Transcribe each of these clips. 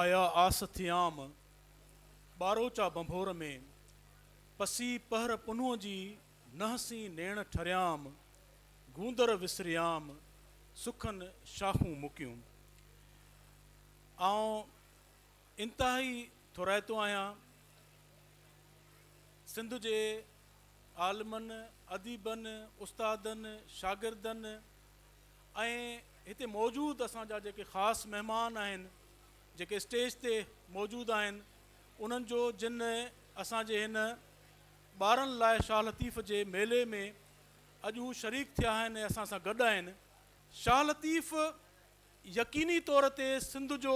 آيا آس ٿيام، ٻاروچا ڀنڀور ۾، پسي پهر پنهون جي، نهسين نيڻ ٺريام، گوندر وسريام، سکن شاخون مڪيون. آئون انتهائي ٿورائتو آهيان سنڌ جي عالمن، اديبن، استادن، شاگردن ۽ هتي موجود اسان جا جيڪي خاص مهمان آهن، جيڪي اسٽيج تي موجود آهن، انهن جو جن اسان جي هن ٻارن لاء شاهه لطيف جي ميلي ۾ اڄ هو شريڪ ٿيا آهن ۽ اسان سان گڏ آهن. شاهه لطيف. يقيني طور تي سنڌ جو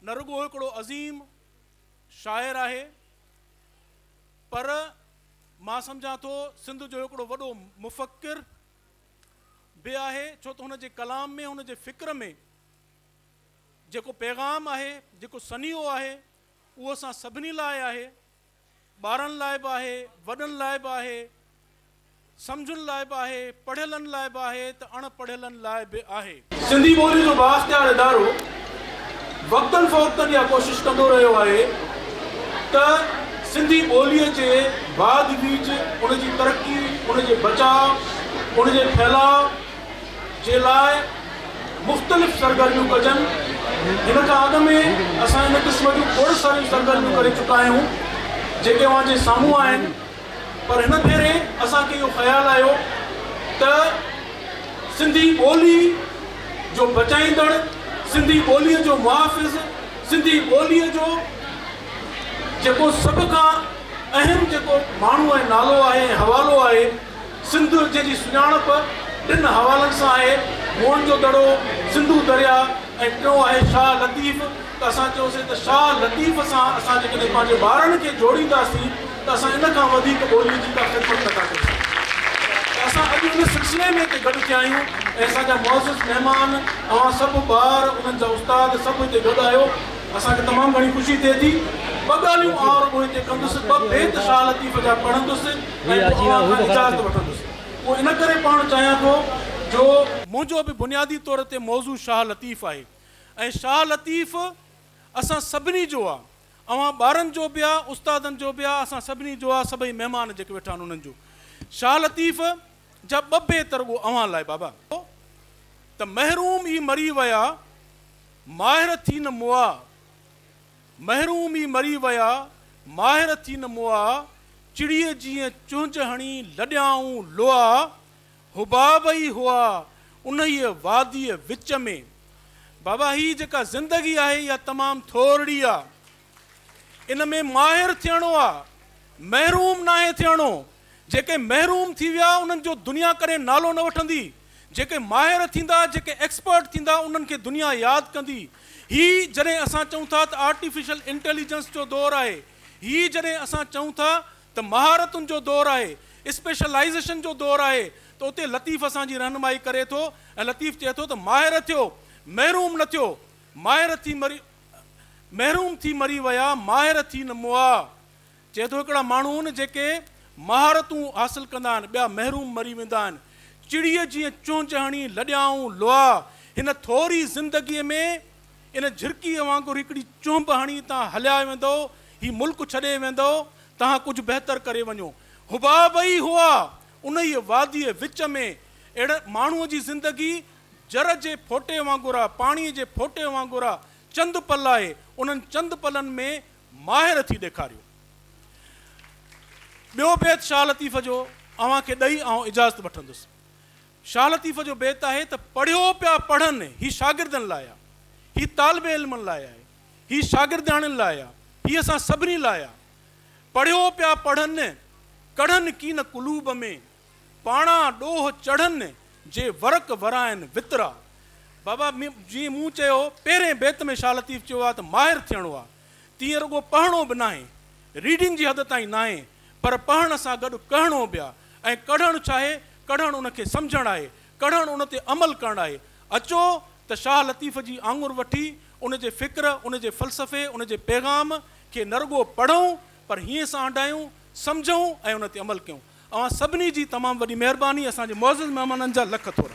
نه رڳو هڪڙو عظيم شاعر آهي پر مان سمجهان ٿو سنڌ جو هڪڙو وڏو مفڪر به آهي ڇو ته هن جي ڪلام ۾ هن جي فڪر ۾ جيڪو پيغام آهي جيڪو سنيهو آهي اهو اسان سڀني لاء آهي. ٻارن لاء به آهي، وڏن لاء به آهي، سمجهن لاء به آهي، پڙهيلن لاء به آهي ته اڻ پڙهيلن لاء به آهي. سنڌي ٻولي جو بااختيار ادارو وقتن فوقتن اها ڪوشش ڪندو رهيو آهي ته سنڌي ٻوليء جي واڌ ويجهه، ان جي ترقي، ان جي بچاء، ان جي ڦهلاء، جي لاء مختلف سرگرميون ڪجن، هن کان اڳ ۾ اسان ان قسم جون کوڙ ساريون سرگرميون ڪري چڪا آهيون، جيڪي اوهان جي سامهون آهن، پر هن ڀيري اسان کي اهو خيال آيو ته سنڌي ٻولي جو بچائيندڙ، سنڌي ٻوليء جو محافظ، سنڌي ٻوليء جو جيڪو سڀ کان اهم جيڪو ماڻهو ۽ نالو آهي ۽ حوالو آهي، سنڌ جنهن جي سڃاڻپ ٽن حوالن سان آهي، موهن جو دڙو، سنڌو درياء ۽ ٽيون آهي شاهه لطيف ته اسان چيوسين ته شاهه لطيف سان اسان جيڪڏهن پنهنجي ٻارڙن کي جوڙينداسين ته اسان ان کان وڌيڪ ٻوليء جي ڪا خدمت نه ٿا ڪري سگهون ته اسان اڄ ان سلسلي ۾ هتي گڏ ٿيا آهيون ۽ اسان جا معزز مهمان اوهان سڀ ٻار انهن جا استاد سڀ هتي گڏ آهيو اسان کي تمام گهڻي خوشي ٿئي ٿي ٻه ڳالهيون آئون رڳو هتي ڪندس ٻه بيت شاهه لطيف جا پڙهندس. ۽ پوء اوهان کان اجازت وٺندس. اهو ان ڪري پوڻ چاهيان ٿو جو. منهنجو به بنيادي طور تي موضوع شاهه لطيف آهي ۽ شاهه لطيف اسان سڀني جو آ. اوهان ٻارن جو به آ، استادن جو به آ، اسان سڀني جو آ، سڀئي مهمان جيڪي ويٺا آهن انهن جو. شاهه لطيف جا ٻه بيت رڳو اوهان لاء بابا. ته محروم ئي مري ويا، ماهر ٿي نه مئا. محروم ئي مري ويا، ماهر ٿي نه موئا، چڙيء جيئن چهنج هڻي لڏيائون لوئا، حباب ئي هئا انهيء واديء وچ ۾. بابا هي جيڪا زندگي آهي اها تمام ٿورڙي آ. ان ۾ ماهر ٿيڻو آ، محروم ناهي ٿيڻو. جيڪي محروم ٿي ويا انهن جو دنيا ڪڏهن نالو نه وٺندي. جيڪي ماهر ٿيندا، جيڪي ايڪسپرٽ ٿيندا، انهن کي دنيا ياد ڪندي. هي جڏهن اسان چئون ٿا ته آرٽيفيشل انٽيليجنس جو دور آهي، هي جڏهن اسان چئون ٿا ته مهارتن جو دور آهي، اسپيشلائيزيشن جو دور آهي ته اتي لطيف اسان جي رهنمائي ڪري ٿو ۽ لطيف چئي ٿو ته ماهر ٿيو، محروم نه ٿيو. ماهر ٿي مري محروم ٿي مري ويا، ماهر ٿي نه مئا. چئي ٿو هڪڙا ماڻهو آهن جيڪي مهارتون حاصل ڪندا آهن ٻيا محروم مري ويندا آهن چڙي جيئن چونچ هڻي لڏيائون لوها هن ٿوري زندگي ۾ ان جهرڪي وانگر هڪڙي چونب هڻي تان هليا ويندو هي ملڪ ڇڏي ويندو تهان ڪجهه بهتر ڪري وڃو حباب ئي هئا انهي وادي وچ ۾ اهڙ ماڻهو جي زندگي جر جي ڦوٽي وانگر آهي پاڻي جي ڦوٽي وانگر آهي چند پل آهي انهن چند پلن ۾ ماهر ٿي ڏيکاريو. ٻيو بيت شاهه لطيف جو اوهان کي ڏئي آئون اجازت وٺندس. شاهه لطيف جو بيت آهي ته پڙهيو پيا پڙهن هي شاگردن لاء آ، هي طالب علمن لاء آهي، هي شاگردياڻين لاء آ، هي اسان سڀني لاء آ. پڙهيو پيا پڙهن، ڪڙهن ڪين قلوب ۾، پاڻا ڏوهه چڙهن جي ورق ورائن وترا. بابا جيئن مون چيو پهرين بيت ۾ شاهه لطيف چيو آهي ته ماهر ٿيڻو آهي تيئن رڳو پهڻو به ناهي ريڊنگ جي حد تائين ناهي پر پهڻ سان گڏ ڪهڻو به آهي ۽ ڪڙهڻ ڇاهي ڪڙهڻ ان کي سمجهڻ آهي ڪڙهڻ ان تي عمل ڪرڻ آهي اچو ته شاهه لطيف جي آڱر وٺي ان جي فڪر ان جي فلسفي ان جي پيغام کي نه رڳو پڙهون پر هيئن سان هنڊايون سمجهون ۽ ان تي عمل ڪيون. اوهان سڀني جي تمام وڏي مهرباني اسان جي معزز مهمانن جا لک ٿورا.